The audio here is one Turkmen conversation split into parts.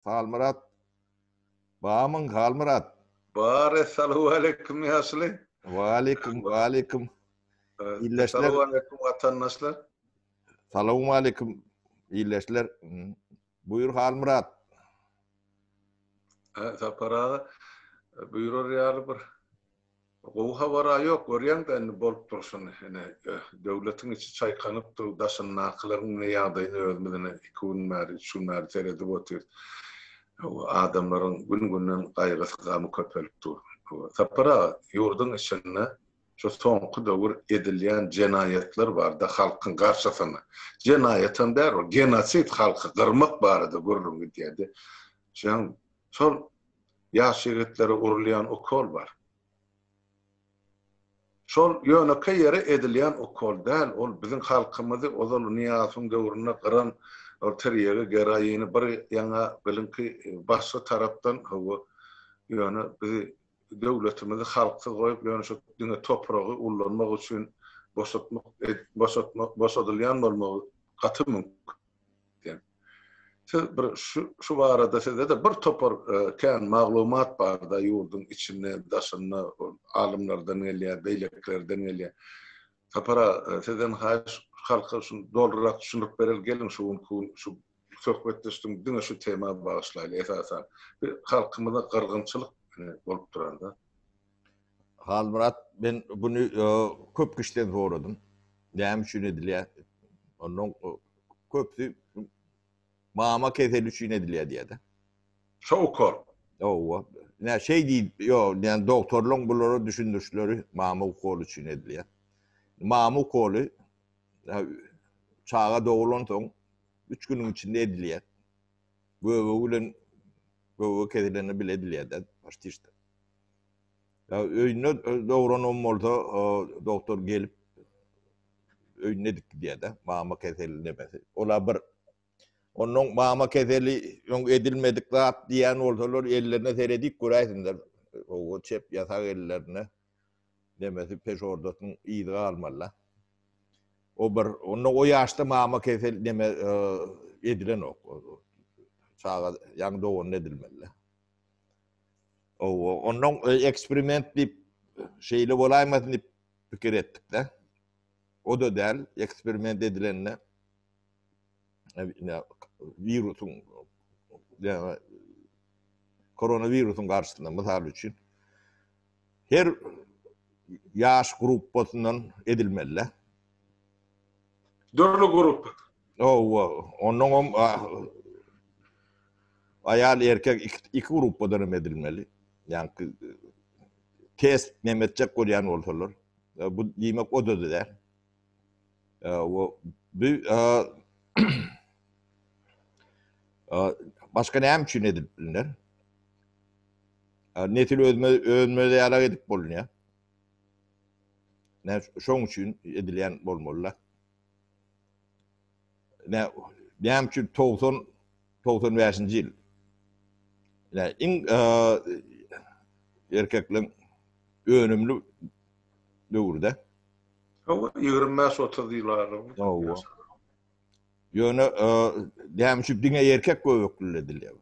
Halmyrat bamyň Halmyrat. Bar essalowaleýkim ýaşuly. Waleýkim waleýkim. Illeşler. Essalowaleýkim watandaşlar. Salawmaleýkim illeşler. Buýur Halmyrat. Sapar aga buýrar ýaly bir Gowy habara ýok görýäňdä indi bolup durşuny ine döwletiň içi çaýkanyp dur daşyndakylaryň ine ýagdaýyny özümiz ine iki gün bäri üç gün bäri seredip otyrys adamlaryň gün günden gaýgysy gamy köpelip dur Sapar aga ýurduň içinde şu soňky döwür edilýän jenaýatlar barda halkyň garşysyna jenaýatam däl ol genosid halky gyrmak barada gürrüň gidýärdi şoň şol Ýaş ýigitlere urulýan ukol bar. Şol ýönekeý ýere edilýän ukol däl, ol biziň halkymyzy ozal Nyýazowyň döwründe gyran ol tirýegi, geroini bir ýaňa biliňki başga tarapdan hawa, ýöne bizi döwletimizi halksyz goýup ýöne şu diňe topragy ullanmak üçin boşatmak boşatmak boşadylýan bolmagy gaty mümkin. diýen. Siz bir şu barada sizde-de bir topar kän maglumat bar-da, ýurduň içinde, daşynda alymlardan gelýär, beýlekilerden gelýär. Sapar aga, sizden haýyş, halka şuny dolurak düşündirip bereli, geliň şu günki gün şu söhbetdeşligiň diňe şu tema bagyşlaýly esasan. Bir halkymyzda gyrgynçylyk bolup duran zat. Halmyrat men buny köp kişiden soradym. Näme üçin edilýär? Ondan köpüsi mama keseli üçin edilýär diýýär-de. Şowkar. Hawa. Nä şeý diý, ýok, ýani doktorlaryň bulara düşündirişleri mama ukoly üçin edilýär. Mama ukoly çaga doglansoň üç günüň içinde edilýär. Göbegi bilen göbege kesilende bile edilýär-de, başda hiç. Ýa öýünde dogranam bolsa, dogtor gelip öýüne edip gidýär-de, mama keseli nemesi. Ola bir Onnoň mama keseli öň edilmedik zat diýýän bolsalar, ellerine seredip göräýsinler. Owo çep ýasak ellerine nemesi peşordasynyň yzy galmaly-da. O bir, onda o ýaşda mama keseli neme edilenok. Çaga ýaňy doganda edilmeli. Owo, ondan eksperiment diýip, şeýle bolaýmasyn diýip pikir etdik-de. O-da däl, eksperiment edilende wirusyň, ýagny koronawirusyň garşysyna, mysal üçin, Her ýaş gruppasyndan edilmelidä. Dürli gruppa. Hawa, onnoňam aýal erkek iki gruppadan hem edilmeli. Ýaňky test näme etjek bolýan bolsalar. Bu diýmek o-da däl. Ä wo bi ä ä başga näme üçin edilip bilner? Ä nesil özme özme ýalak edip bolunýa. Näş şoň üçin edilýän bolmaly-da. Ine, näme üçin togsan, togsan bäşinji ýyl? Ine, iň erkekligiň önümli döwürde. Hawa, ýigrimi bäş, otuz ýyl aralygynda. Hawa. Ýöne, näme üçin diňe erkek göbekli edilýär?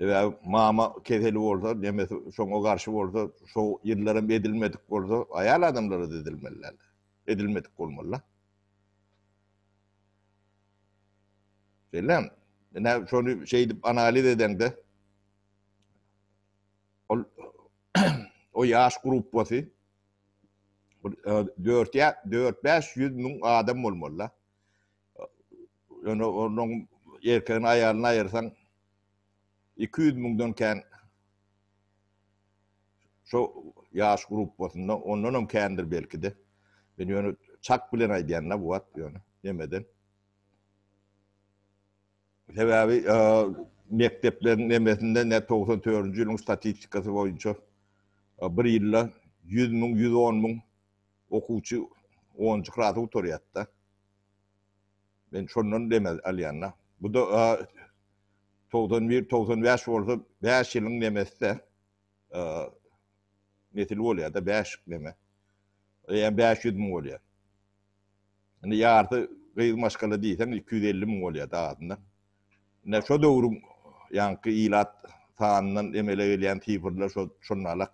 Sebäbi mama keseli bolsa, nemesi şoňa garşy bolsa, şo ýyllar hem edilmedik bolsa, aýal adamlara-da edilmeli däldir. Edilmedik bolmaly-da. Bellämi? Ine, şony şeýdip analiz edeňde, ol o ýaş gruppasy bir e, dört ýa dört bäş ýüz müň adam bolmaly. Ýöne onuň erkegini aýalyny aýyrsaň, Iki ýüz müňden kän şo ýaş gruppasynda, ondanam kändir belki-de. Men ýöne çak bilen aýdýan-da bu wagt ýöne nemeden. Sebäbi mekdepleriň nemesinde ne togsan dördünji ýylyň statistikasy boýunça bir ýylda ýüz müň, ýüz on müň okuwçy onunjy klasy gutarýar-da. Men şondan dem alýan-da. Bu-da togsan bir, togsan bäş bolsa, bäş ýylyň nemesi-de nesil bolýar-da, bäş neme. Eýýäm bäş ýüz müň bolýar. Indi ýarysy gyz maşgala diýseň, iki ýüz elli müň bolýar-da azyndan. Ine, şo döwrüň ýaňky ilat sanyndan emele gelýän sifrler şo, şonalak.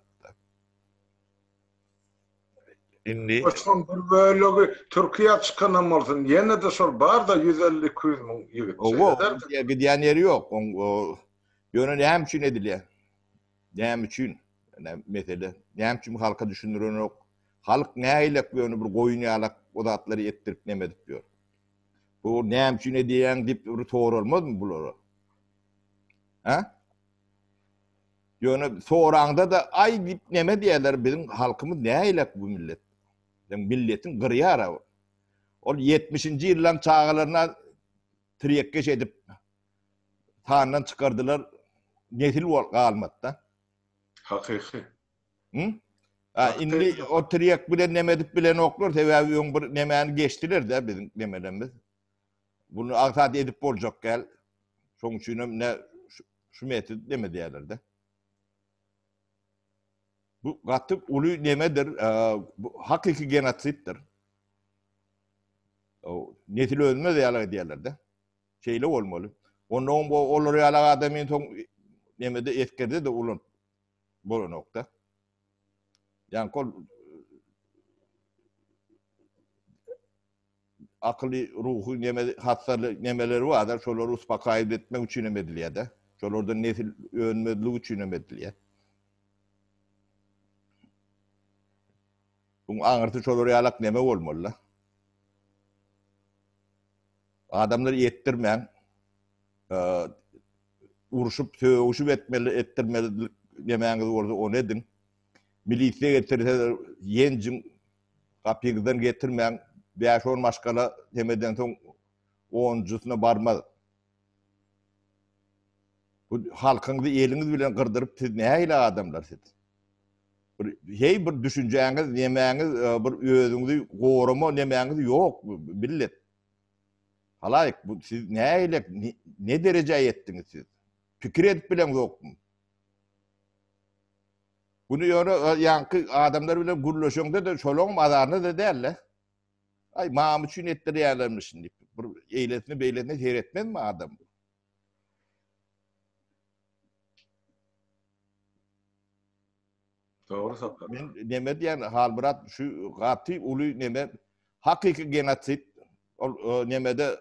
Indi. Şoň bir bölegi Türkiýä çykanam bolsun, ýene-de şol bar-da ýüz elli, iki ýüz müň ýigit. Owo, gidýän ýeri ýok. Oň, o, ýöne näme üçin edilýär? Näme üçin? Ine, mesele. Näme üçin halka düşündirenok? Halk nägilek ýöne bir goýun ýalak o zatlary etdirip neme edip ýör? Bu näme üçin edýäň diýip bir soralmazmy bulara? Hä? Ýöne soraňda-da, aý diýip näme diýerler, biziň halkymyz näýlek bu millet? Sen milletiň gyrýar-a bu. Ol ýetmişinji ýyllaryň çagalaryna tirekgeş edip, sandan çykardylar, nesil bol galmady-da. Hakyky. Hü? A, indi o tirek bilen neme edip bilenoklar, sebäbi öň bir nemäni geçdiler-de biziň nemelerimiz. Buny aňsat edip boljak däl. Şoň üçinem ne şu metod neme diýerler-de. Bu gaty uly nemedir, bu hakyky genotsiddir. O nesil ölmez ýaly diýerler-de. Şeýle bolmaly. Onda oň bu olar ýaly adamy soň nemede eskerde de ulan bolanokda. Ýankol akyly, ruhy neme hassaly nemeleri bardyr, şolary uspakaýyp etmek üçin hem edilýär-de. Şolardan nesil önmezligi üçin hem edilýär. Buň aňyrsy şolar ýalak neme bolmaly-da. Adamlary etdirmäň, urşup, sögüşip etmeli, etdirmeli nemäňiz bolsa ony ediň. Milisiýa getirseler ýenjiň, Gapyňyzdan getirmäň, bäş-on maşgala sem edensoň, onunjysyna barmaz. Bu halkyňyzy eliňiz bilen gyrdyryp, siz nähili adamlar siz? Bir heý bir düşünjäňiz, nemäňiz, bir özüňizi gorama nemäňiz ýok millet. Halaýyk, bu siz nähili, ne derejä ýetdiňiz siz? Pikir edip bileňzokmy? Güni ýöne ýaňky adamlar bilen gürleşeňde-de şolaryňam azarynda-da däl-le. Aý, maňam üçin etdirýärlermişin diýip, bir eýlesine-beýlesine seretmezmi adam? Dogry Sapar. Men neme diýen Halmyrat şu gaty uly neme hakyky genosid ol nemede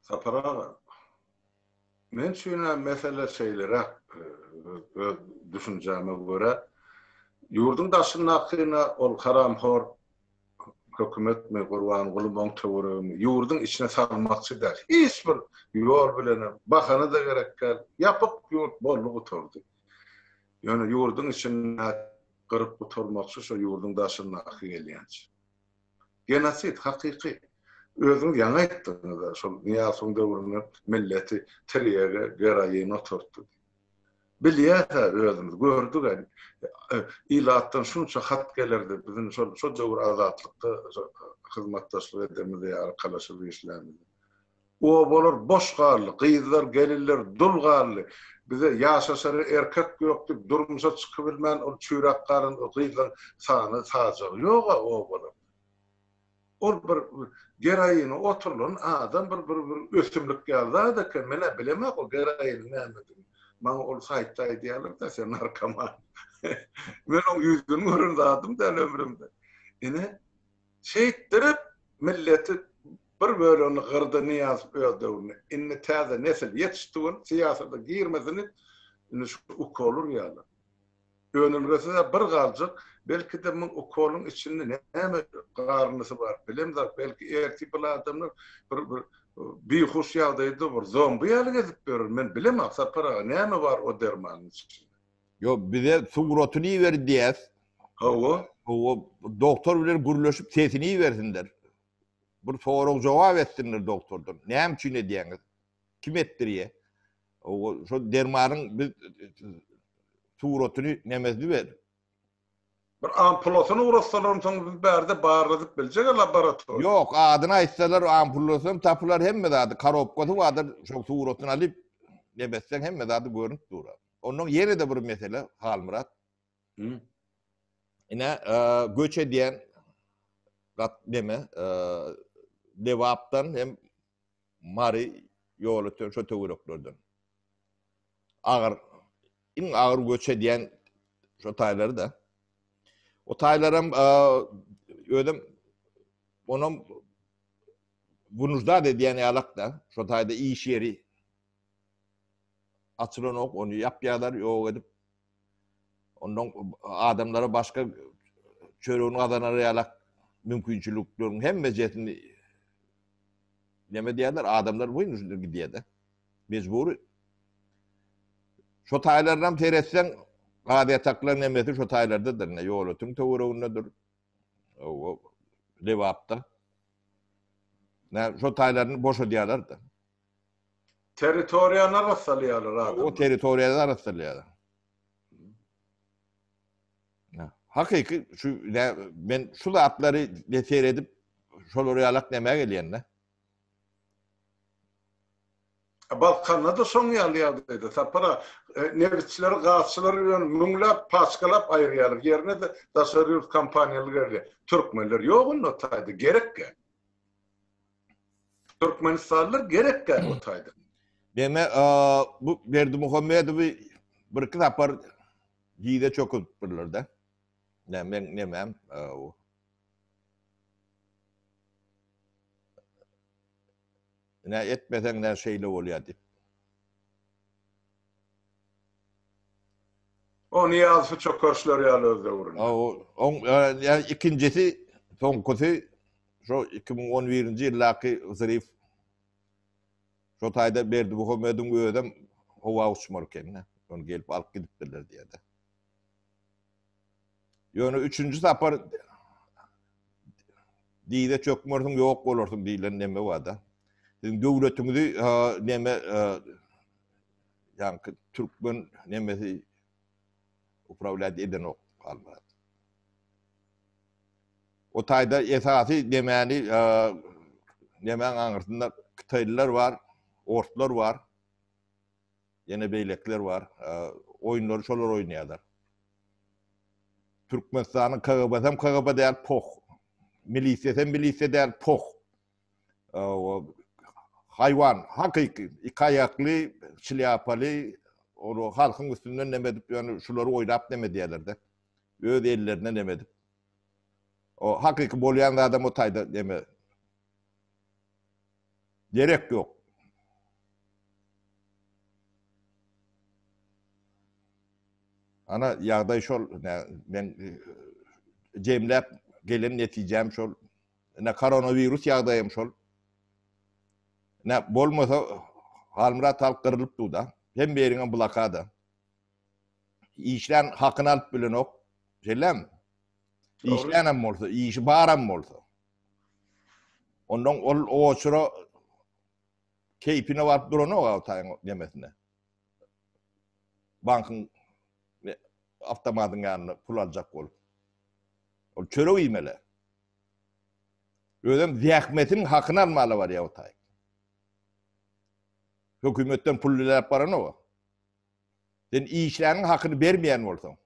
Sapar aga, men üçin-ä mesele şeýleräk, öz düşünjäme görä, ýurduň daşyndakyna ol haramhor hökümetmi, Gurbanguly Möngtöweregimi ýurduň içine salmakçy däl. Hiç bir ýol bilenem, bahana-da gerek däl. Ýapyk ýurt boldy gutardy. Ýöne ýurduň içindäki gyryp gutarmakçy, şo ýurduň daşyndaky gelýänçä. Genosid hakyky. Özüňiz ýaňy aýtdyňyz-a, şol Nyýazowyň döwründe milleti tirýege, geroine oturtdy. Bilýäs-ä özümiz, gördük-ä. Ilatdan şunça hat gelerdi, biziň şol döwür Azatlykda hyzmatdaşlyk edemiz ýa arkalaşyp işlämiz. Obalar boş galdy, gyzlar, gelinler dul galdy. Bize ýaşaşara erkek ýokdy, durmuşa çykybilmän ol çüýräp galan o gyzlaryň sany sajagy ýog-a obalarda. Ol bir geraýyny oturylan adam bir bir bir ösümlik ýaly zat eken, men-ä bilemok o geraýynyň nämedigini. Maňa ol saýtda aýdýarlar-da, sen narkoman. Men oň ýüzüni gören zadym däl ömrümde. Ine, Şeýtdirip milleti bir bölegini gyrdy Nyýazow öz döwründe. Indi täze nesil ýetişdi welin syýasata girmesini indi şu ukol urýarlar. Önülgesi-hä bir galjak, belki-de muň ukoluň içinde näme garyndysy bar bilemzok, belki ertir bul adamlar bir bir bihuş ýagdaýda bir zombi ýaly gezip ýörer, men bilemok Sapar aga näme bar o dermanyň içinde. Yo bize suratyny iber diýäs. Hawa. Hawa doktor bilen gürleşip sesini ibersinler. Bir sorag jogap etsinler doktordan. Näme üçin edýäňiz? Kim etdirýä? Hawa şu dermanyň biz suratyny nemesini ber. Bir ampulasyny ugrassalar soň biz bärde barladyp biljek laboratoriýa. Ýok, adyny aýtsalar ampulasam tapylar hemme zady, korobkasy bardyr, şol suratyny alyp nebetseň hemme zady görünip durar. Onnoň ýene-de bir mesele, Halmyrat. Hü. Ine, göç edýän gat neme, Lebapdan hem Mary ýol öten şo töwereklerden. Agyr, iň agyr göç edýän şo taýlary da. O taýlaram özüm onam bunujda edýän ýalak da, şo taýda iş ýeri Açylan ok ony ýapýarlar, ýok edip, ondan adamlara başga çöregini gazanar ýalak mümkinçilikleriň hemmejesini neme diýerler, adamlar boýun üstüne gidýär-de. Mejbury. Şo taýlarynam seretseň, gaz ýataklaryň hemmesi şo taýlardadyr, ine, ýolötüň töweregindedir. Oba, Lebapda. Nä, şo taýlaryny boşadýarlar-da. Territoriýany arassalýarlar adamlar. O territoriýany arassalýarlar. Hakyky şu men şu zatlary seredip şolary ýalak näme gelýände? Balkanda-da şoň ýaly ýagdaýda Sapara e, nebitçileri, gazçylary bilen müňläp, paçkalap aýyrýarlar. Ýerine de daşary ýurt kompaniýalary gelýär. Türkmenler ýok onda taýda, gerek ýa. Türkmenistanlylar gerekkä otaýda. Deme bu Berdi Muhammedowy bir iki sapar diýde çöküp birler de. Ne men ne men o. Ne etmesen ne şeyle olýar diýip. Onu ýalsy çökerişler ýaly öz döwründe. O, on, e, ikincisi, sonkusy Şo iki müň on birinji ýyldaky wzriw şo taýda Berdi Muhammediň özem howa uçmar eken-de. Ony gelip alyp gidipdirler diýýär-de. Ýöne üçünji sapar diýze çökmersiň ýok bolarsyň diýlen neme bar-da. Siziň döwletiňizi neme ýaňky türkmen nemesi Uprawlýat edenok Halmyrat. O taýda esasy nemäni nemäň aňyrsynda kytaýlylar bar, orslar bar. Ýene beýlekler bar. Oýunlary şolar oýnaýarlar. Türkmenistanyň KGB-si hem KGB däl, poh. Milisiýasy hem milisiýa däl, poh. haýwan, hakyky iki aýakly, şlýapaly, ol halkyň üstünden neme edip ýöne şulary oýlap neme edýärler-de. Öz ellerine neme edip. O hakyky bolýan zadam o taýda neme. Gerek ýok. Ana ýagdaý şol, men jemläp gelen netijäm şol. Ine koronawirus ýagdaýam şol. Ine bolmasa Halmyrat halk gyrylyp duda. Hem beriňem blokada. Işlän hakyny alyp bilenok. Şeýlem. Işlänem bolsa, işi baram bolsa. Ondan ol oçura keýpine baryp duranok awtaýyň demesine. Bankyň awtomatyň ýanynda pul aljak bolup. Ol çörek iýmeli. Özem zähmetiniň hakyny almala barýa Otaýew. Hökümetden pul diläp baranok-a. Sen işläniň hakyny bermeýän bolsaň.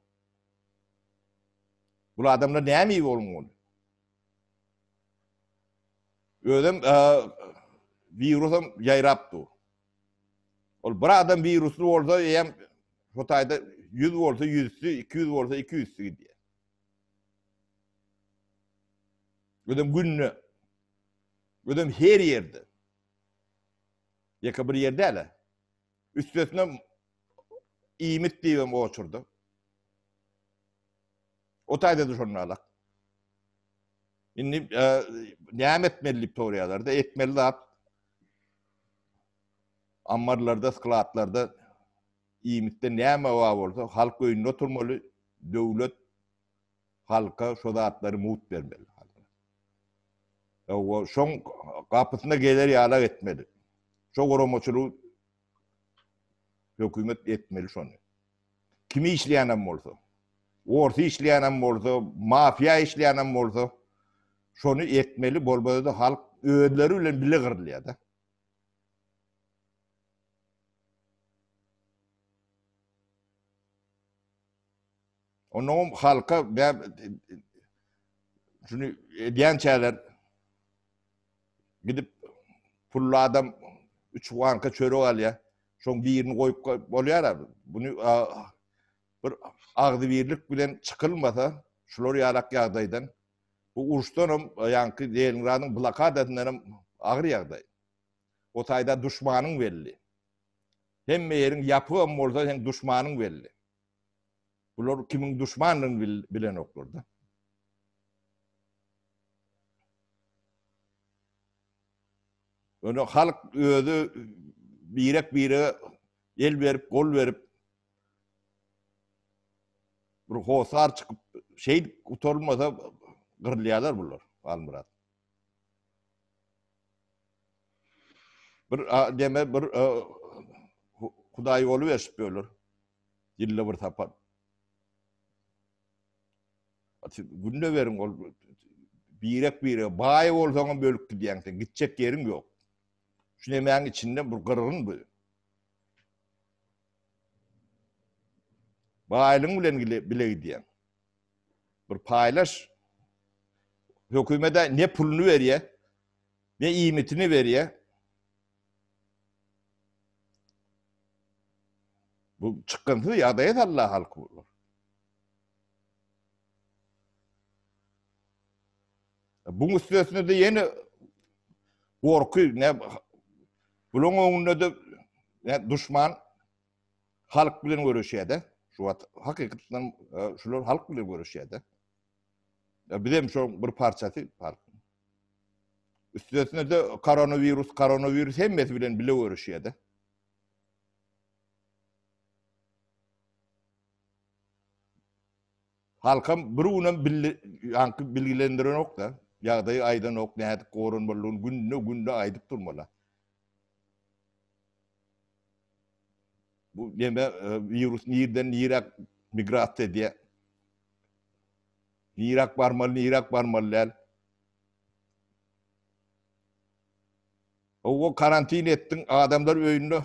Bul adamlar näme iýip onuň ony? Özem wirusam ýaýrap dur. Ol bir adam wirusly bolsa eýem Otaýda 100 bolsa 100-si, 200 bolsa 200-si gidýär. Özem günde. Özem her yerde. Yaka bir yerde däl-ä. Üstesine iýmit diýibem oturdy. O taýda düşünmälak. Indi e, näme etmeli diýip soraýarlar-da, etmeli zat ammarlarda, skladlarda Iýmitde näme bar bolsa halk öýünde oturmaly, döwlet halka şo zatlary mugt bermeli. Hawa, şoň gapysyna geler ýalak etmeli. Şo guramaçylygy hökümet etmeli şony. Kim işleýänem bolsa, orsy işleýänem bolsa, mafiýa işleýänem bolsa, şony etmeli, bolmasa-da halk özleri bilen bile gyrylýar-da. Onnoňam halka bäb şuny edýänçäler gidip pully adam üç banka çörek alýar. Şoň birini goýup bolýar-a. Buny bir agzybirlik bilen çykylmasa şular ýalak ýagdaýdan bu uruşdanam ýaňky Leningradyň blokadasyndanam agyr ýagdaý. O taýda duşmanyň belli. Hemme ýeriň ýapygam bolsa seň duşmanyň belli. Bular kimiň duşmandygyny bilenoklar-da. Ýöne halk özi birek-bire el berip, gol berip bir hosar çykyp, şeýdip gutarylmasa gyrylýarlar bular, Halmyrat. Bir deme bir hudaý boluberşip böler. Ýylda bir sapar. Günde beriň ol birek birek baý bolsaňam bölüp gidýäň sen. Gitjek ýeriň ýok. Şu nemäň içinde bir gyrgyn bu. Baýlyň bilen bile gidýäň. Bir paýlaş. Hökümede ne puluny berýä, ne iýmitini berýä. Bu çykgynsyz ýagdaýa salýar halky bular. Bu müstesnede ýene gorky, ne buluň öňünde de ne duşman Halk bilen göreşýärde. Şu wagt hakykatdan şular halk bilen göreşýärde. Bizem şu bir parçasy halk. Üstesine de koronawirus, koronawirus hemmesi bilen bile göreşýärde. Halkam bir günem billi, yankı bilgilendiren ok da, yağdayı aydan ok, ne edik korun balun, günde günde aydıp durmala. Bu neme wirus nirden niräk migrasiýa edýär? Niräk barmaly, niräk barmaly däl? Owo karantin etdiň, adamlar öýünde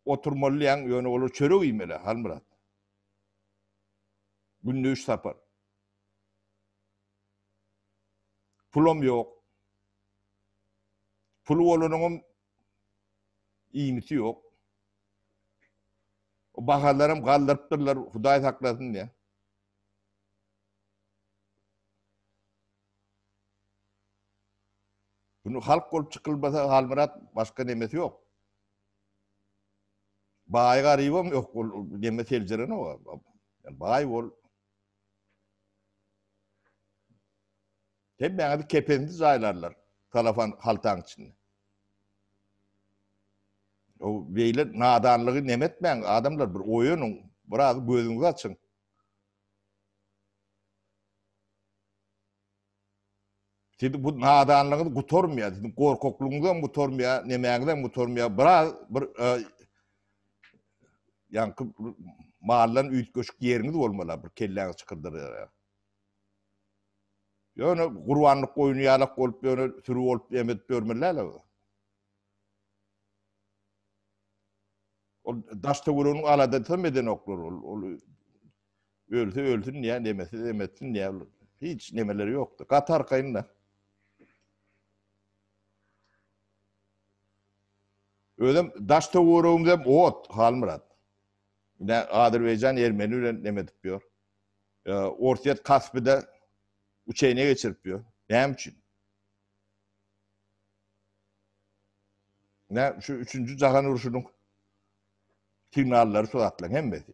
oturmaly diýýäň, ýöne olar çörek iýmeli, Halmyrat. Günde üç sapar. Pulam ýok. Puly bolanyňam iýmiti ýok. O bahalaram galdyrypdyrlar, Hudaý saklasyn diýä. Bunu halk bolup çykylmasa Halmyrat başga nemesi ýok. Baý garybam ýok, ol neme seljereni o. Baý bol, Hemmäňizi kepenizi jaýlarlar salafan haltaň içinde. O beýle nadanlygy neme etmäň, adamlar bir oýanyň, biraz gözüňizi açyň. Siziň bu nadanlygyňyz gutarmaýar, siziň gorkaklygyňyzam gutarmaýar, nemäňizem gutarmaýar. Biraz bir ýaňky maldan üýtgeşik ýeriňiz bolmaly, bir kelläňizi çykyrdyraýar. Ýöne gurbanlyk goýny ýalak bolup, ýöne süri bolup emedip ýörmeli-le. Ol daş töweregiň aladasy hem edenoklar ol. Ölse ölsün diýýär, demese demetsin diýýär. Hiç nemeleri ýokdy. Gaty arkaýyn-da. Özüm daş töweregimiz hem ot, Halmyrat. Ine Azerbaýjan ermeni bilen neme edip ýör. E, Orsýet Kaspide uçeýne geçirip ýör. Näme üçin? Nä şu 3-nji jahan urşunyň signallary şu zatlaryň hemmesi.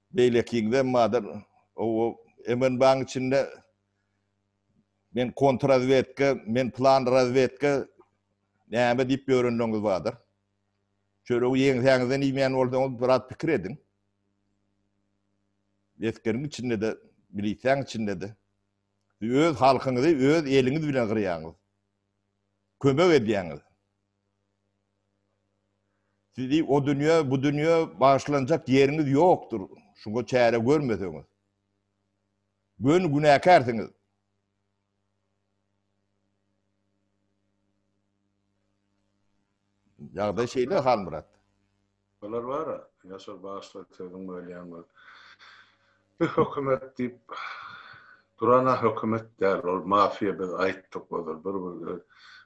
Beýlekiňizem bardyr. O MNBA-nyň içinde men kontrrazwedka, men plan razwedka näme diýip ýörenleriňiz bardyr. Çöregi ýeňsäňizden iýmän bolsaňyz biraz pikir ediň. Esgeriň içinde-de, milisiýanyň içinde-de öz halkyňyzy öz eliňiz bilen gyrýaňyz. Kömek edýäňiz. Sizi o dünýä, bu dünýä bagyşlanjak ýeriňiz ýokdur, şuňa çäre görmeseňiz. Göni günäkärsiňiz. Ýagdaý şeýle Halmyrat. Olar bara, Ýaşar bagşla sözüň bölýän bol. Biz hökümet diýip durana hökümet däl ol mafiýa biz aýtdyk ozal bir bir öz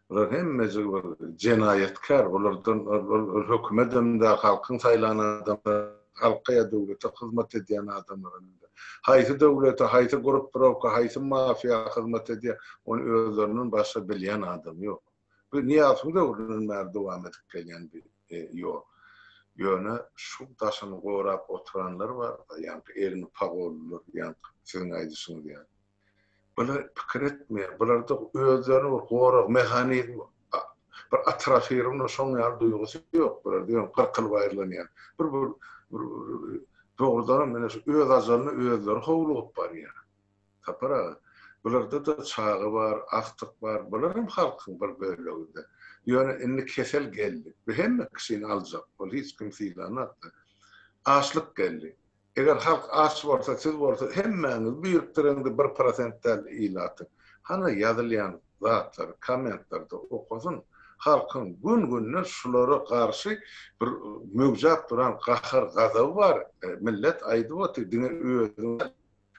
bular hemmejigi bir jenaýatkär bulardan ol hökümedem däl halkyň saýlan adamlar halka ýa döwlete hyzmat edýän adamlar indi haýsy döwlete haýsy gruppirawka haýsy mafiýa hyzmat edýär ony özlerinden başga bilýän adam ýok. Bu Nyýazowyň döwründen bäri dowam edip gelýän bir ýol. Ýöne şu daşyny gorap oturanlar bar-da, ýaňky elini pagollylar, ýaňky siziň aýdyşyňyz ýaly. Bular pikir etmeýär, bularda özlerine bir gorag mehanizmi, bir atrafirowna şoň ýaly duýgusy ýok bularda, ýöne kyrk ýyl baýyrlanýar. Bir dogrudanam, ine, şu öz ajalyna özleri howlugyp barýar. Sapar aga, bularda-da çaga bar, agtyk bar, bularam halkyň bir bölegi-dä. Ýöne indi kesel geldi. Bu hemme kişini aljak, ol hiç kimi sylanok-da. Açlyk geldi. Eger halk aç bolsa, siz bolsa hemmäňiz birikdiriň-de bir prosent däl ilaty. Hany ýazylýan zatlary kommentlerde okasyn. Halkyň gün-günden şulara garşy bir möwjäp duran gahar-gazaby bar. Millet aýdyp otyr, diňe özüňiz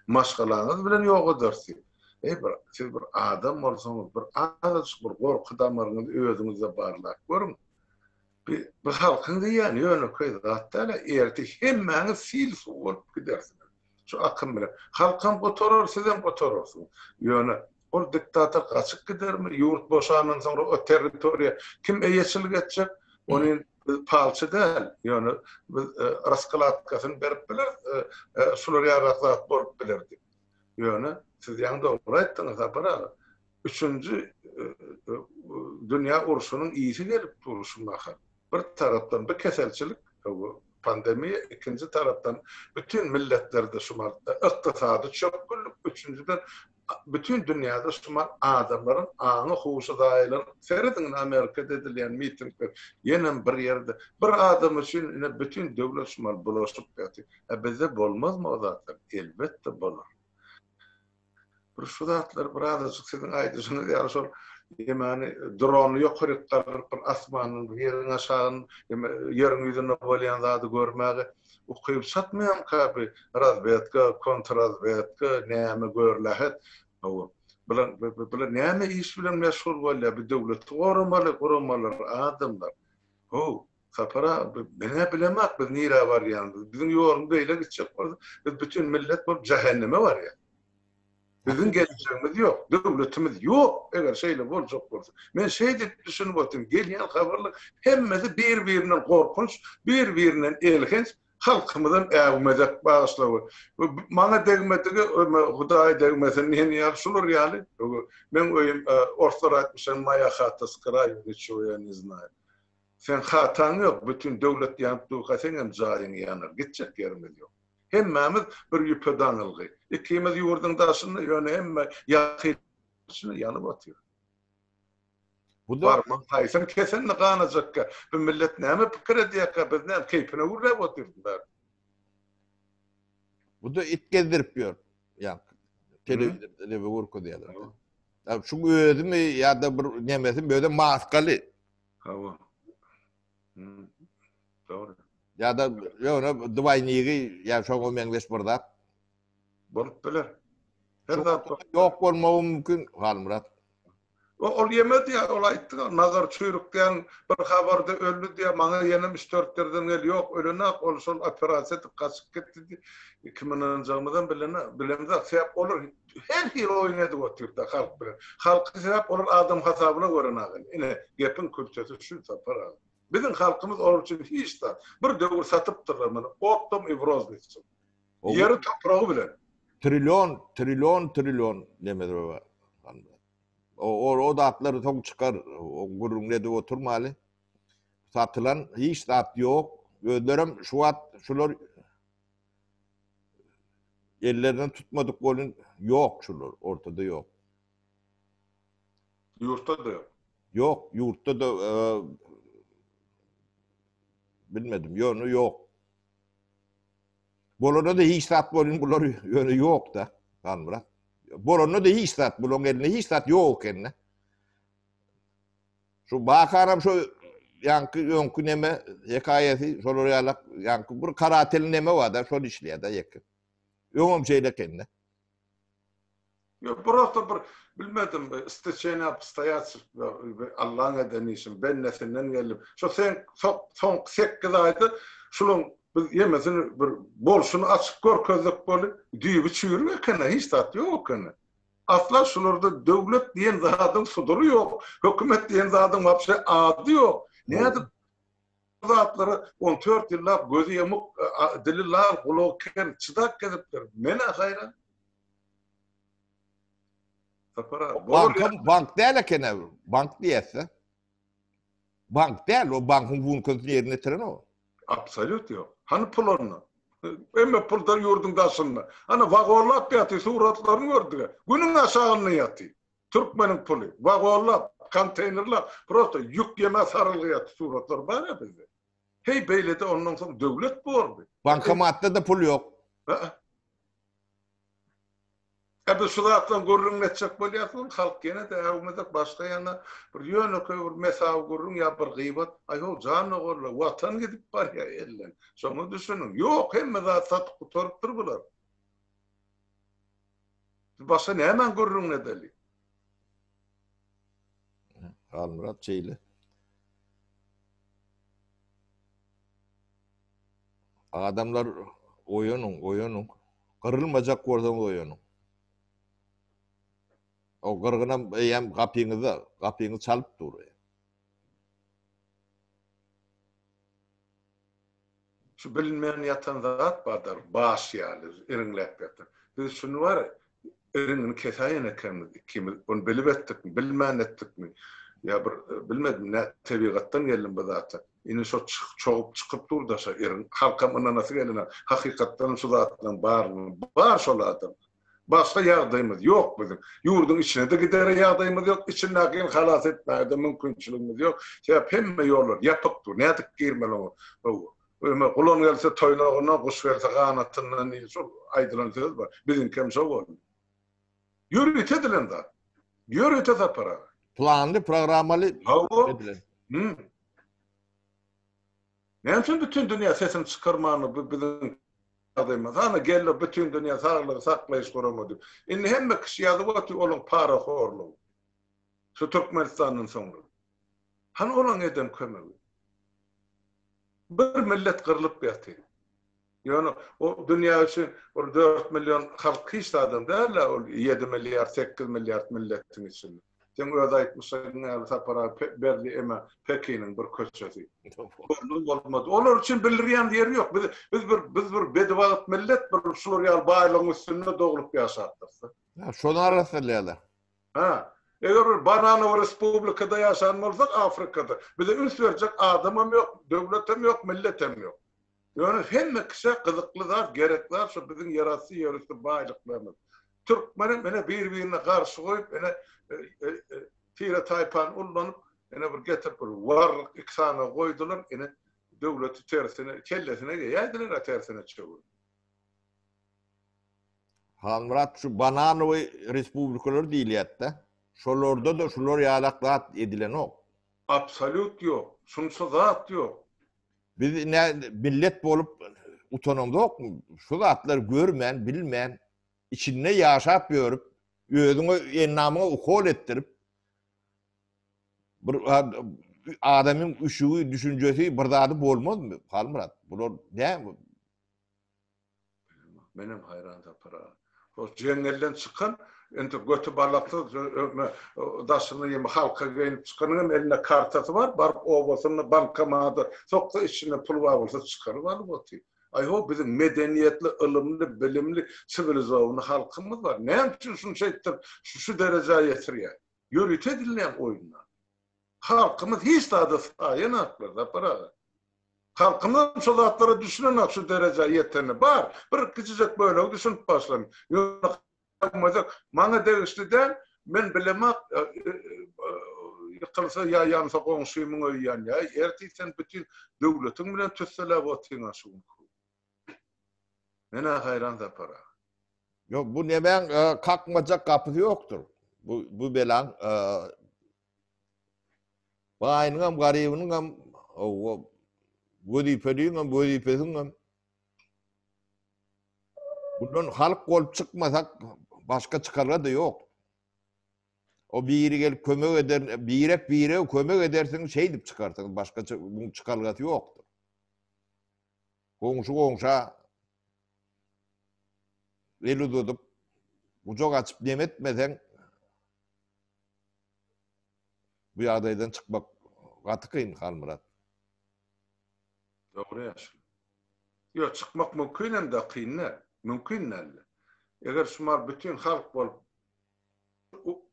Maşgalaňyz bilen ýogadarsyň. Eý, bir siz bir adam bolsaňyz, bir azajyk bir gorky damaryňyzy özüňizde barlap görüň. Bi bi halkyň diýýäni ýönekeý zat däl-ä, ertir hemmäňiz sil-suw bolup gidersiňiz. Şu akym bilen. Halkam gutarar, sizem gutararsyňyz. Ýöne Ol diktator gaçyp gidermi? Ýurt boşandan soňra o territoriýa kim eýeçilik etjek? Ony biz palçy däl, ýöne biz raskladkasyny berip bileris, şular ýaly zat bolup biler diýip. Ýöne siz ýaňy dogry aýtdyňyz Sapar aga. Üçünji dünýä urşunyň ysy gelip dur şu mahal. Bir tarapdan bu keselçilik, bu pandemiýa, ikinji tarapdan bütin milletlerde şu mal ykdysady çökgünlik, üçünjiden bütin dünýäde şumal adamlaryň aňy huşy zaýalanyp serediň indi amerikada edilýän mitingler ýenem bir ýerde bir adam üçin ine bütin döwlet şumal bulaşyp ýatyr a bizde bolmazmy o zatlar elbetde bolar bir şu zatlar bir azajyk siziň aýdyşyňyz ýaly şol ýemany drony ýokaryk galdyryp bir asmanyň ýeriň aşagyny ýeriň ýüzünde bolýan zady görmäge Ukyp çatmaýamyka bi razwedka, kontrrazwedka, näme görlähet. Hawa, bular bular näme iş bilen meşgul bolýar, bi döwleti goramaly guramalar, adamlar. Haw, Sapar aga, menä bilemak biz nirä barýanymyzy, biziň ýolumyz beýle gitjek bolsa, biz bütin millet bolup jähenneme barýas. Biziň geljegimiz ýok, döwletimiz ýok, eger şeýle boljak bolsa. Men şeýdip düşünip otyryn, gelýän habarlar hemmesi bir-birinden gorkunç, bir-birinden elhenç, halkymyzam äwmezek, bagyşla, maňa degmedigi Hudaýa degmesin, men ýaly, şular ýaly, meň öýüm, orslar aýtmyşlar, Moýa hata s kraýu, niçego ýa ne znaýu. Seň hataň ýok, bütin döwlet ýanyp durka seňem jaýyň ýanar, gitjek ýerimiz ýok. Hemmämiz bir ýüpe daňylgy. Ikimiz ýurduň daşynda, ýöne hemme ýakynyň içinde ýanyp otyr. Barmaň haýsyň kesenini ganajakka, bu millet näme pikir edýärkä, biz näme keýpine gürläp otyrys bäri. Bu-da it gezdirip ýör. Ýa telewizorda neme görkezýärler. Şuň özümi ýa-da bir nemesi özem maskaly. Hawa. Dogry. Ýa-da ýöne dwaýnigi ýa şoňa meňzeş bir zat. Bolup biler. Her zat ýok bolmagy mümkin, Halmyrat. O ol ýemedi ýa ol aýtdy, nazar çüýrük diýen bir habarda öldi diýýär, maňa ýenem üç-dört ýerden gel, ýok ölenok, ol şol operasiýa edip gaçyp gitdi diýip, kimin ynanjagymyzam bilenok, bilemzok, sebäp olar Her hili oýun edip otyr-da halk bilen. Halky sebäp olar adam hasabyna gören agam. Ine, gepiň kültesi şu, Sapar aga. Biziň halkymyz olar üçin hiç zat. Bir döwür satypdyrlar muny optom i w roznis üçin. Ýeri, topragy bilen. Trillion, trillion, trillion Nemez baba. O zatlary soň çykar. O gürrüňini edip oturmaly. Satylan hiç zat ýok. Özlerem şu wagt şular Ellerinden tutmadyk bolun ýok şular ortada ýok. Ýurtda da ýok. Ýok ýurtda da bilmedim ýöne ýok. Bolanda da hiç zat bolun bular ýöne ýok da Galmyrat. Bolanda da hiç zat bularyň elinde hiç zat ýok ekende. Şu bakaram şu ýaňky öňki neme hekaýasy şolar ýalak ýaňky bir karatel neme bar-da şol işleýär-de ýeke. Öňem şeýle ekeni. Ýok, prosta bir bilmedim, isteçeniýe obstoýaç Allaň eden işi, bennesinden geldim. Şo seň soňky sekiz aýda şulaň biz ýemesini bir bolşuny açyp görkezdik bolup, düýbi çüýrük eken-le, hiç zat ýok eken-le. Asla şularda döwlet diýen zadyň sudury ýok, hökümet diýen zadyň wapşe ady ýok. Nädip bu zatlara on dört ýyllap gözi ýamyk, dili lal, gulagy ker çydap gezipdir? Men-ä haýran. Sapar aga, Bank däl ekeni, bank diýýäs-dä. Bank däl, o bankyň funksiýasyny ýerine ýetiren o. Absolýut ýok. Hany pul onda? Hemme pullar ýurduň daşynda. Ana wagollap ýatyr, suratlaryny gördüga. Günüň aşagynda ýatyr. Türkmeniň puly. Wagollap, konteýnerlap, prosta ýük ýemä sarylgy ýatyr. Suratlar bar ýa bizde. Heý beýlede ondan soň döwlet bordy. Bankomatda-da pul ýok. Hä? Hä biz şu zatlaryň gürrüňini etjek bolýarys, ol halk ýene-de äwmezek başga ýaňa bir ýönekeý bir mesawy gürrüň ýa bir gybat, aý-ho, janogorlar, Watan gidip barýar elden, şoňa düşüniň. Ýok, hemme zat satyp gutarypdyr bular. Biz başga nämäň gürrüňini edeli? Halmyrat şeýle. Adamlar oýanyň, oýanyň. Gyrylmajak bolsaňyz oýanyň. O gyrgynam eýýäm gapyňyzda, gapyňyzy çalyp dur. Şu bilinmän ýatan zat bardyr, baş ýaly, iriňläp ýatan. Biz şuny bar, Erimini kesäýen ekenimiz ikimiz. Ony bilip etdikmi, bilmän etdikmi, ýa bir bilmedim nä tebigatdan geldim bu zata. Indi şo çogup çykyp dur daşa eriň. Halkam ynanasy gelenok. Hakykatdanam şu zatlaryň barynyň bar şol adam. Başga ýagdaýymyz ýok biziň. Ýurduň içine-de gidere ýagdaýymyz ýok, içindäkini halas etmäge-de mümkinçiligimiz ýok. Sebäp hemme ýollar ýapyk dur. Nädip girmeli oňa? Öýüme gulan gelse toýnagyna, guş gelse ganatyndan diýen şol aýdylan söz bar. Biziňki hem şo boldy. Ýörite edilen zat. Ýörite Sapar aga. Planly, programmaly edilen. Näme üçin bütin dünýä sesini çykarman bu biziň ýagdaýymyz? Hany geldi bütin dünýä saglygy saklaýyş gurama diýip. Indi hemme kişi ýazyp otyr olaň parahorlugy. Şu Türkmenistandan soňra. Hany olaň eden kömegi? Bir millet gyrlyp ýatyr. Ýöne o dünýä üçin bir dört million halk hiç zadam däl-ä ol ýedi milliard, sekiz milliard milletiň içinde. Seň öz aýtmyşlaryň ýaly Sapar aga Berdi eme Pekiniň bir köçesi. Görnüp bolmady. Olar üçin bildirýän ýeri ýok. Biz biz bir biz bir bedibagt millet bir şular ýaly baýlygyň üstünde doglup ýaşapdyrys-da. Şony arassalýarlar. Hä. Eger bir bananowy respublikada ýaşan bolsak Afrikada, bize üns berjek adamam ýok, döwletem ýok, milletem ýok. Ýöne hemme kişä gyzykly zat, gerek zat şu biziň ýerasty, ýerüsti baýlyklarymyz. Türkmenem ine bir-birine garşy goýup, ine tire-taýpany ullanyp, ine bir getirip bir warryk iki sany goýdular, ine döwleti tersine, kellesine geýäýdiler-ä tersine çöwürip. Halmyrat şu bananowy respublikalar diýilýätdä. Şolarda-da şular ýalak zat edilenok. Absolýut ýok. Şunça zat ýok. Biz ine millet bolup utanamzokmy? Şu zatlary görmän, bilmän, içinde ýaşap ýörüp, özüňe ennamyňa ukol etdirip, bir adamyň üşügi, düşünjesi bir zady bolmazmy? Halmyrat, bular näme? Menem haýran Sapara. Ol jeňňelden çykan, indi göti balaksyz, daşyna ýymy halka geýnip çykanyň hem elinde kartasy bar, baryp obasyna bankomada soksa içinden pul bar bolsa çykaryp alyp otyr. Aý-ho, biziň medeniýetli, ylymly, bilimli, siwilizowny halkymyz bar. Näme üçin şuny şeýtdirip, şu derejä ýetirýär? Ýörite edilýän oýunlar. Halkymyz hiç zada saýenaklar Sapar aga. Halkymyzam şo zatlara düşünenak şu derejä ýeteni bar. Bir kiçijek bölegi düşünip başlan. Maňa degişli däl, men bilemak ýykylsa ýa ýansa goňşymyň öýi ýanýar. Ertir sen bütin döwletiň bilen tüsseläp otyňa şu gün. Men-ä haýran Sapar aga. Ýok, bu nemäň kakmajak gapysy ýokdur. Bu belaň Baýynyňam, garybynyňam, hawa, wezipeliňem, wezipesiňem. Bundan halk bolup çykmasak, başga çykalga-da ýok. O biri gelip kömek eder, birek bire kömek edersiň, şeýdip çykarsyň, başgaça bunun çykalgasy ýokdur. Goňşy goňşa El uzadyp, gujak açyp dem etmeseň, bu ýagdaýdan çykmak gaty kyn, Halmyrat. Dogry ýaşuly. Ýok, çykmak mümkin hem-de kyn däl. Mümkin däl-de. Eger şumal bütin halk bolup,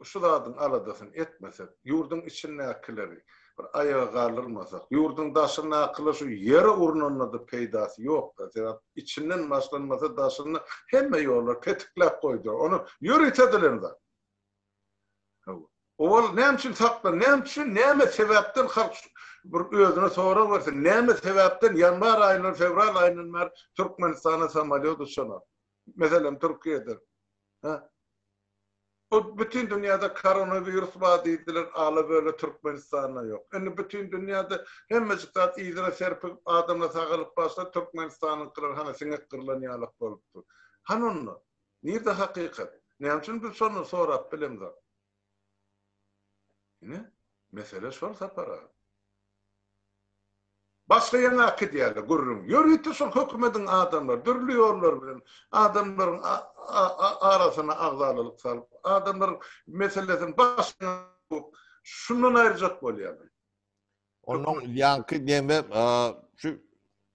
şu zadyň aladasyny etmesek, ýurduň içindäkileri bir aýaga galdyrmasak, ýurduň daşyndakylar şu ýere urnanda-da peýdasy ýok-da, sebäp içinden başlanmasa daşynda hemme ýollary petikläp goýdular, ony ýöritediler zat. Hawa. Owal näme üçin saklan, näme üçin, näme sebäpden halk bir özüne sorag bersin, näme sebäpden ýanwar aýyndan, fewral aýyndan bäri Türkmenistana samolýot uçanok? Meselem, Türkiýedir. Hä? Bu bütin dünýäde koronawirus bar diýdiler, ala-böle Türkmenistanda ýok. Indi bütin dünýäde hemmejik zat yzyna serpigip, adamlar sagalyp barsa, Türkmenistanyňkylar hana siňek gyrlan ýalak bolup dur. Hany onda? Nirde hakykat? Näme üçin biz şony sorap bilemzok? Ine, mesele şol, Sapar aga. Başga ýaňa akydýarlar gürrüň. Ýörite şol hökümediň adamlary dürli ýollar bilen adamlaryň arasyna agzalalyk salyp, adamlaryň meselesini başga şundan aýyrjak bolýarlar. Onuň ýaňky demi şu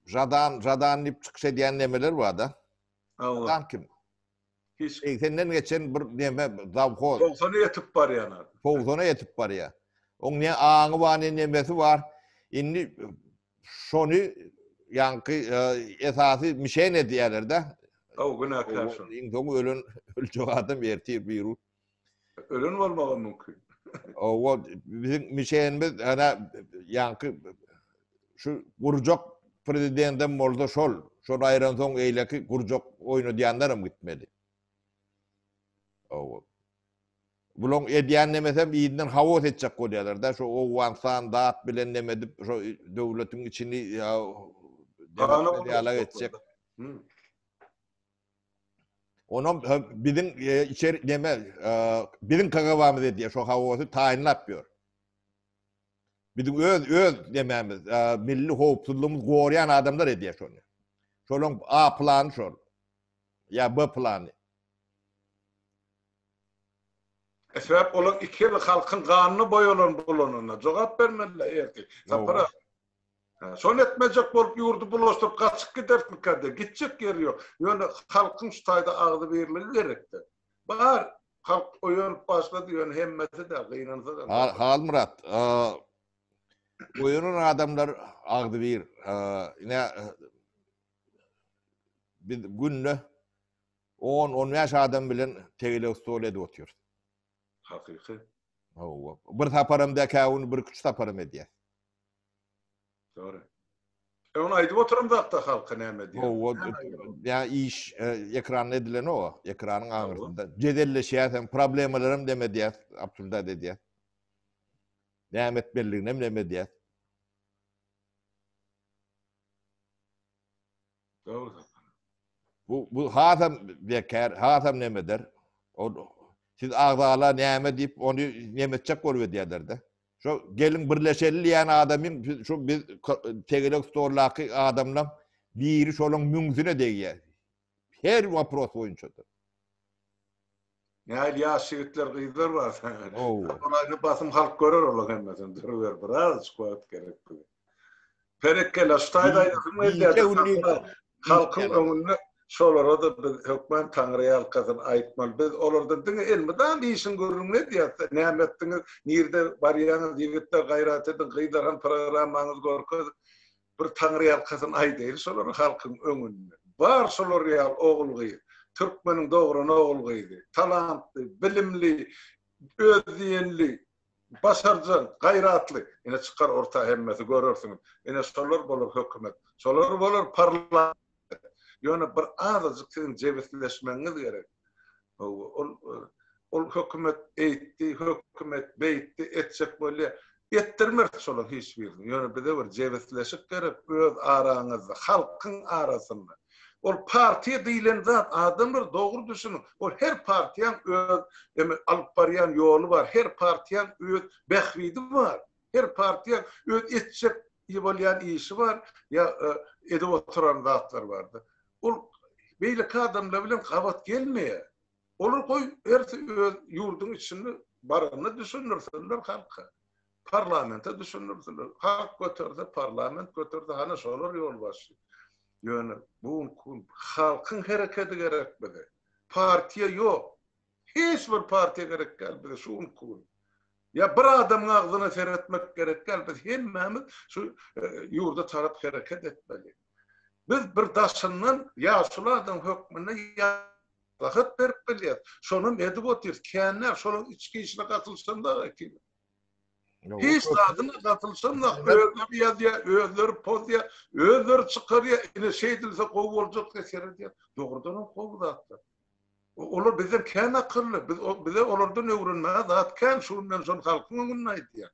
Žadan, Žadan diýip çykyş edýän nemeler bar-da. Hawa. Kim? Hiç kim. Seňden geçen bir neme zawhoz. Togsan ýetip barýan adam. Togsana ýetip barýar. Oň ne aňy bar, ne nemesi bar. Indi şony ýaňky esasy mişen edýärler-de. Hawa günäkär şol. Iň soň ölen öljek adam ertir birun. Ölen bolmagy mümkin. Owa, biziň mişenimiz ana ýaňky şu gurjak prezidendem bolsa şol. Şol aýran soň eýleki gurjak oýnadýanlaram gitmeli. Owa. Bulaň edýän nemesem ýerinden haos etjek bolýarlar-da, şu Owganystan dat bilen neme edip, şu döwletiň içini ýa-da ýalak etjek. Onam biziň içer neme biziň kagabamyz edýär şo hawasy taýynlap ýör. Biziň öz öz nemämiz milli howpsuzlygymyz gorýan adamlar edýär şony. Şolaň A plany şol. Ýa B plany. Sebäp olar iki ýyl halkyň ganyna boýalan bolanyna jogap bermeliler ertir. Sapar aga. Şony etmejek bolup ýurdy bulaşdyryp gaçyp gidersmikä-de, gitjek ýeri ýok. Ýöne halkyň şu taýda agzybirligi gerekde. Bar, halk oýanyp başlady, ýöne hemmesi-de gynansa da. Halmyrat, oýanan adamlar agzybir. Ine, biz günde on, on bäş adam bilen tegelek stol edip otyrys. Hakyky. Hawa. Bir saparam dekä ony bir küç saparam edýär. Dogry. E ony aýdyp oturan zatda halka näme diýer? Hawa, ýa iş ekranda edilenok, ekranyň aňyrsynda. Jedelleşýäs hem, problemalar hem deme diýýäs, absurdat edýäs. Näme etmelidigini hem deme diýýäs. Dogry. Bu bu hasam bekar, hasam nemedir. O siz agzala näme diýip ony nemetjek bolup edýärler-de. Şo gelin birleşeli diýen adamyň şu biz tegelek stoldaky adamlaň biri şonuň müňzüne degýär. Her wopros boýunça. Nähili ýaş ýigitler, gyzlar bar sen. Olaýda basym halk görer olar hemmesini. Duruber, birazajyk wagt gerek bu. Perekella, şu taýda aýdasyň gelýär. Halkyň öňünde şolara-da biz hökman Taňry ýalkasyn aýtmaly. Biz olardan diňe elmydam işiň gürrüňini edýäs. Näme etdiňiz, nirde barýaňyz, ýigitler gaýrat ediň, gyzlar hem programmaňyzy görkeziň. Bir taňryýalkasyn aýdaýyl şolary halkyň öňünde. Bar şolar ýaly ogul-gyz. Türkmeniň dogran ogul-gyzy. Talantly, bilimli, öz diýenli, başarjaň, gaýratly. Ine çykar orta hemmesi görersiňiz. Ine şolar bolar hökümet. Şolar bolar parlament. ýetmez. Ýöne bir azajyk siziň jebisleşmegiňiz gerek. Ol ol hökümet eýtdi, hökümet beýtdi, etjek bolýar. Etdirmeris şolaryň hiç birini. Ýöne bize bir jebisleşik gerek öz araňyzda, halkyň arasynda. Ol partiýa diýlen zat, adamlar dogry düşüniň, ol her partiýaň öz alyp barýan ýoly bar, her partiýaň öz bähbidi bar. Her partiýa öz etjek bolýan işi bar, ýa edip oturan zatlary bardy. Ol beýleki adamlar bilen gabat gelmeýär. Olar goý hersi öz ýurduň içinde baranyny düşündirsinler halka. Parlamente düşündirsinler. Halk göterse, parlament göterse hany şolar ýolbaşçy. Ýöne bu günki gün halkyň herekedi gerek bize. Partiýa ýok. Hiç bir partiýa gerek däl bize şu günki gün. Ýa bir adamyň agzyna seretmek gerek däl, biz hemmämiz şu ýurda tarap hereket etmeli. Biz bir daşyndan ýaşuly adam hökmünde maslahat berip bilýäs. Şonam edip otyrys. Känler şolaryň içki işine gatylşan da ekili. Hiç zadyna gatylşan da özleri ýazýar, özleri pozýar, özleri çykarýar. Ine şeýdilse gowy boljak diýip seredýär. Dogrudanam gowy zatlar. Olar bizden kän akylly, biz bize olardan öwrenmäge zat kän, şu gün men şony halkyň öňünde aýdýan.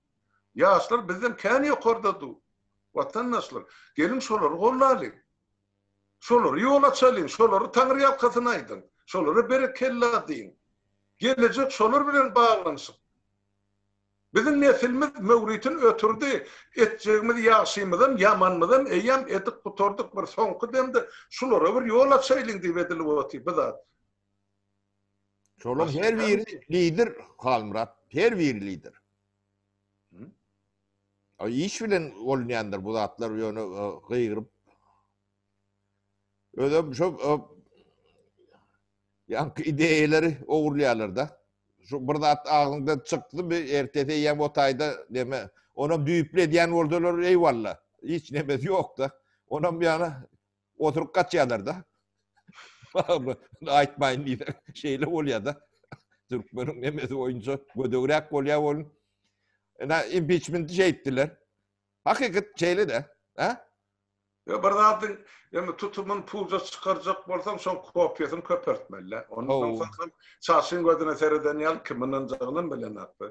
Ýaşlar bizden kän ýokarda dur. Watandaşlar, geliň şolary gollalyň. Şolara ýol açalyň, şolara taňyrýalkasyn aýdyň, şolara berekella diýiň. Gelejek şolar bilen baglanyşykly. Biziň nesilimiz möwritini ötürdi, etjegimiz ýagşymyzam, ýamanymyzam eýýäm edip gutardyk, bir soňky demde şulara bir ýol açaýlyň diýip edilip otyr bu zat. Şolaryň her biri lider Halmyrat, her biri lider. Iş bilen bolunýandyr bu zatlar, ýöne gygyryp Özüm şu ýaňky ideýalary ogurlaýarlar-da. Şu bir zat agzyňdan çykdymy, ertesi eýýäm o taýda näme, onam düýpli edýän bolsalar, eýwalla, hiç nämesi ýok-da. Onam ýana oturyp gaçýarlar-da. Aýtmaýyn diýseň, şeýle bolýar-da. Türkmeniň nemesi boýunça gödegräk bolýar ol. Ine, impiçmenti şeýtdiler. Hakykat şeýle-de. Ýa bir zadyň ýa-da tutumyny puja çykarjak bolsaň, şoň kopiýasyny köpeltmeli-dä. Onda soň soň çarşyň gözüne sereden ýaly kim ynanjagynam bilenokdy.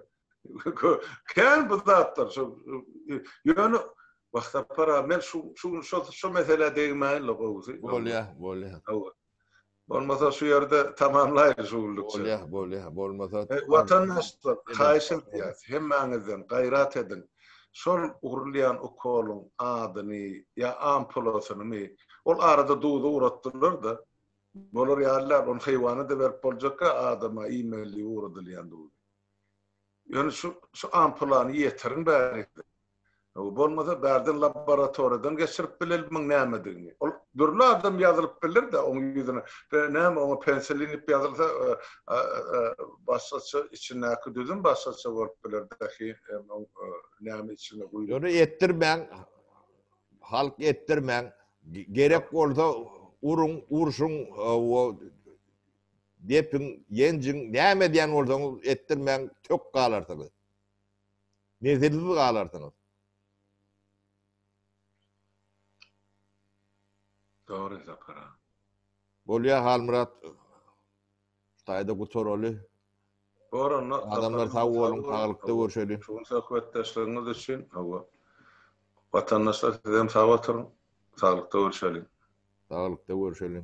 Kän bu zatlar şu. Ýöne Wahsapar aga, men şu şu şu şu meselä degmäýin-le gowusy. Bolýar, bolýar. Hawa. Bolmasa şu ýerde tamamlaýyň şu günlükçe. Bolýa, bolýa, bolmasa. Watandaşlar, haýyş edýäs, hemmäňizden gaýrat ediň. Şol urulýan ukolyň adyny ýa ampulasynymy, ol arada duza uratdylar-da, bolar ýaly däl, ony heýwana-da berip boljakka, adama iýmeli ugradylýan duzy. Ýöne şu şu ampulany ýetiriň bärik. Bolmasa bärden laboratoriýadan geçirip bilelimmiň nämedigini. Ol dürli adam ýazylyp biler-de oň ýüzüne. Näme oňa pensilin diýip ýazylsa başgaça içindäki düzüm başgaça bolup biler dahi oň näme içine guýulyp. Ýöne etdirmäň. Halk etdirmäň. Gerek bolsa uruň, urşuň depiň, ýenjiň, näme edýän bolsaňyz etdirmäň, tök galarsyňyz. Nesilsiz galarsyňyz. Dogry Sapar aga. Bolýa Halmyrat. Taýda gutaraly. Goranda adamlar sag boluň, saglyklda görşeli. Şu gün söhbetdeşligiňiz üçin hawa. Watandaşlar siz hem sag oturyň, saglyklda görşeli. Saglyklda görşeli.